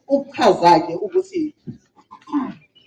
ukuchaza-ke ukuthi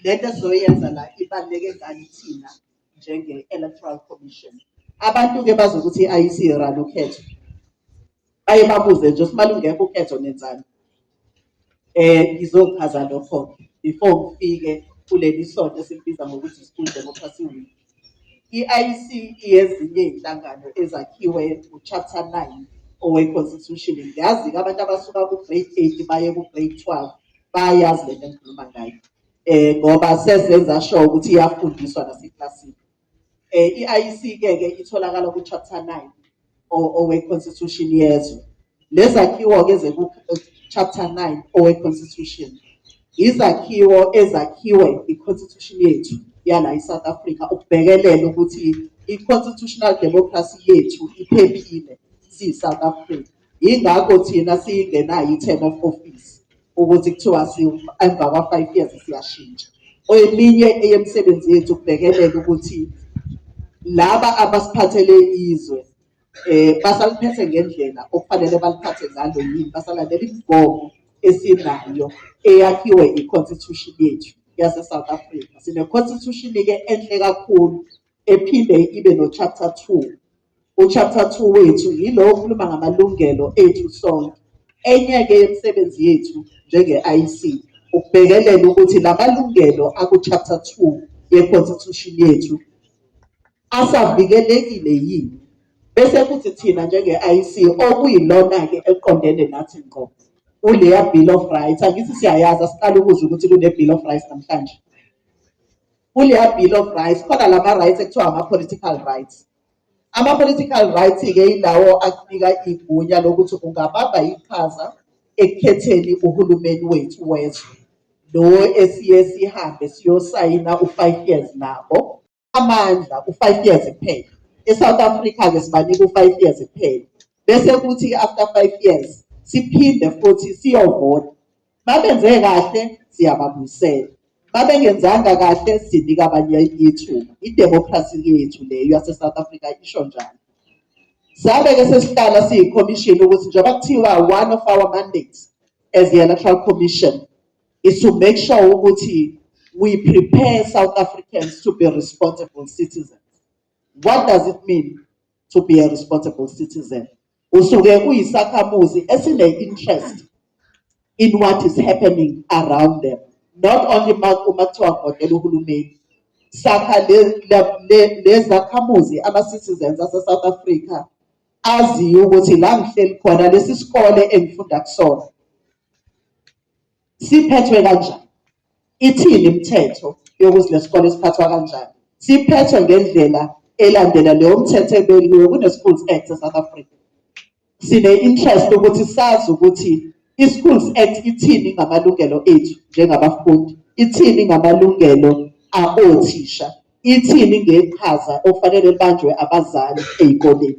le nto esizoyenza la ibaluleke ngani thina njenge-electoral commission abantu-ke bazi ukuthi i-IEC irani ukhetho baye babuze nje ukuthi malungekho ukhetho nenzani eh ngizochaza lokho before ngifike kuleli sonto esikubiza ngokuthi i-school democracy week I-IEC iyezinye izinhlangano ezakhiwe nguChapter 9 oweConstitution. Ngiyazi-ke abantu abasuka ku-grade 8 baye ku-grade 12 bayayazi le nto engikhuluma ngayo um ngoba sezenza sure ukuthi iyafundiswa naseklasini. Um i-IEC-ke-ke itholakala ku-chapter 9 owe-constitution yezwe lezakhiwo-ke chapter 9 owe-constitution izakhiwo ezakhiwe i-constitution yethu yala i-south africa ukubhekelela ukuthi i-constitutional democracy yethu iphephile siyi-south africa yingakho thina siyingenayo i-term of office ukuthi kuthiwa emva kwa-five years siyashintsha eminye eyemisebenzi yethu kubhekelela ukuthi laba abasiphathele izwe eh basaliphethe ngendlela okufanele baliphathe ngalo yini basalandela imigomo esinayo eyakhiwe i-constitution yethu yase-south africa sine-constitution-ke enhle kakhulu ephinde ibe no-chapter two UChapter 2 wethu yilo okhuluma ngamalungelo ethu sonke. Enye-ke yemisebenzi yethu njenge-IEC ukubhekelela ukuthi la malungelo akuChapter 2 yeConstitution yethu asavikelekile yini bese kuthi thina njenge-IEC okuyilona-ke eliqondene nathi ngqo kuleya Bill of Rights angithi siyayazi asiqala ukuzwa ukuthi kune-Bill of Rights namhlanje kuleya Bill of Rights khona lama-rights ekuthiwa ama-political rights Ama-political rights-ke yilawo akunika igunya lokuthi ungabamba iqhaza ekukhetheni uhulumeni wethu wezwe lo esiye sihambe siyosayina u-five years nabo amandla u-five years kuphela e-south africa-ke sibanika u-five years kuphela bese kuthi after five years siphinde futhi siyovota Babenze kahle siyababuyisela, babengenzanga kahle sinika abanye ithuba. Idemokhrasi yethu leyo yaseSouth Africa isho njalo. Sabe-ke sesihlala siyikhomishini ukuthi njengoba kuthiwa one of our mandates as the Electoral Commission is to make sure ukuthi we prepare South Africans to be responsible citizens. What does it mean to be a responsible citizen? usuke uyisakhamuzi esine-interest in what is happening around them not only uma kuthiwa ngodela uhulumeni sakha lezakhamuzi ama-citizens ase-south africa aziyo ukuthi la ngihleli khona lesi sikole engifunda kusona Siphethwe kanjani? Ithini imithetho yokuthi lesikole siphathwa kanjani? Siphethwe ngendlela elandela leyo mthetho ebekiwe kune-Schools Act e-South Africa. Sine-interest ukuthi sazi ukuthi i-Schools Act ithini ngamalungelo ethu njengabafundi, ithini ngamalungelo aothisha, ithini ngeqhaza okufanele libanjwe abazali ey'koleni.